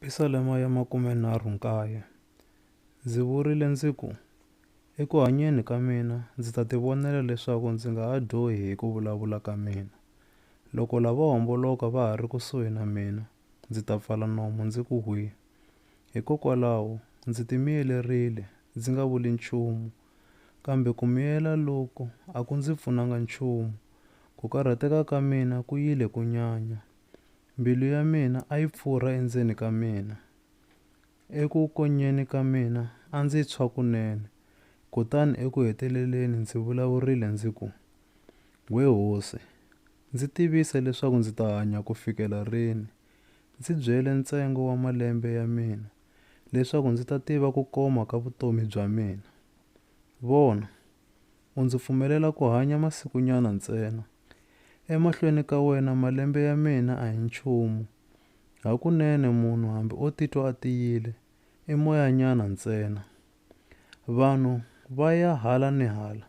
Pisalema ya makumenharhu nkaye, Ndzi vurile ndzi ku, Eku hanyeni ka mina ndzi ta tivonela leswaku ndzi nga ha dyohi hi ku vulavula ka mina. Loko lavo homboloka va ha ri kusuhi na mina, ndzi ta pfala nomu ndzi ku hwi. Hikokwalaho ndzi timiyelerile, ndzi nga vuli nchumu. Kambe ku miyela loku a ku ndzi pfunanga nchumu, ku karhateka ka mina ku yile ku nyanya. Mbilu ya mina a yi pfurha endzeni ka mina. Eku konyeni ka mina a ndzi tshwa kunene, kutani eku heteleleni ndzi vulavurile ndzi ku, We Hosi, ndzi tivise leswaku ndzi ta hanya ku fikela rini. Ndzi byele ntsengo wa malembe ya mina, leswaku ndzi ta tiva ku koma ka vutomi bya mina. Vona! u ndzi pfumelela ku hanya masikunyana ntsena. Emahlweni ka wena malembe ya mina a hi nchumu. Hakunene munhu hambi o titwa a tiyile, i moyanyana ntsena. Vanhu va ya hala ni hala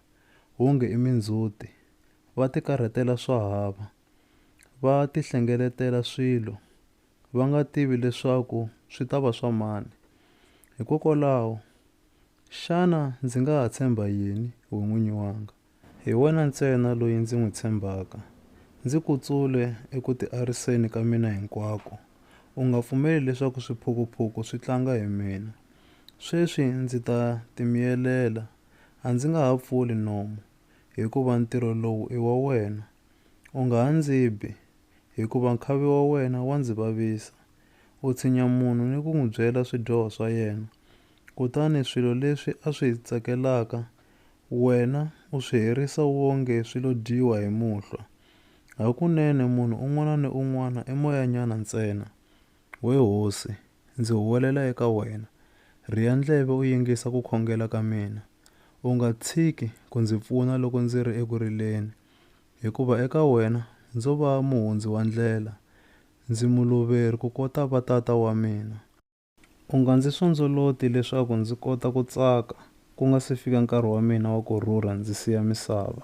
wonge i mindzhuti, va tikarhatela swa hava, va tihlengeletela swilo va nga tivi leswaku swi ta va swa mani. Hikokwalaho Xana ndzi nga ha tshemba yini, we n'winyi wanga? Hi wena ntsena loyi ndzi n'wi tshembaka. Ndzi ku tsule eku tiariseni ka mina hinkwako. U nga pfumeli leswaku swiphukuphuku swi tlanga hi mina. Sweswi ndzi ta timiyelela. A ndzi nga ha pfuli nomu, hikuva ntirho lowu i wa wena. U nga ha ndzi bi, hikuva nkhavi wa wena wa ndzi vavisa. U tshinya munhu ni ku n'wi byela swidyoho swa yena, kutani swilo leswi a swi tsakelaka wena u swi herisa wonge swi lo dyiwa hi muhlwa. Hakunene munhu un'wana ni un'wana i moyanyana ntsena. We hosi, ndzi huwelela eka wena, rhiya ndleve u yingisa ku khongela ka mina. U nga tshiki ku ndzi pfuna loko ndzi ri eku rileni, hikuva eka wena ndzo va muhundzi wa ndlela, ndzi muluveri kukota va tata wa mina. U nga ndzi sondzoloti leswaku ndzi kota ku tsaka, ku nga si fika nkarhi wa mina wa ku rhurha ndzi siya misava.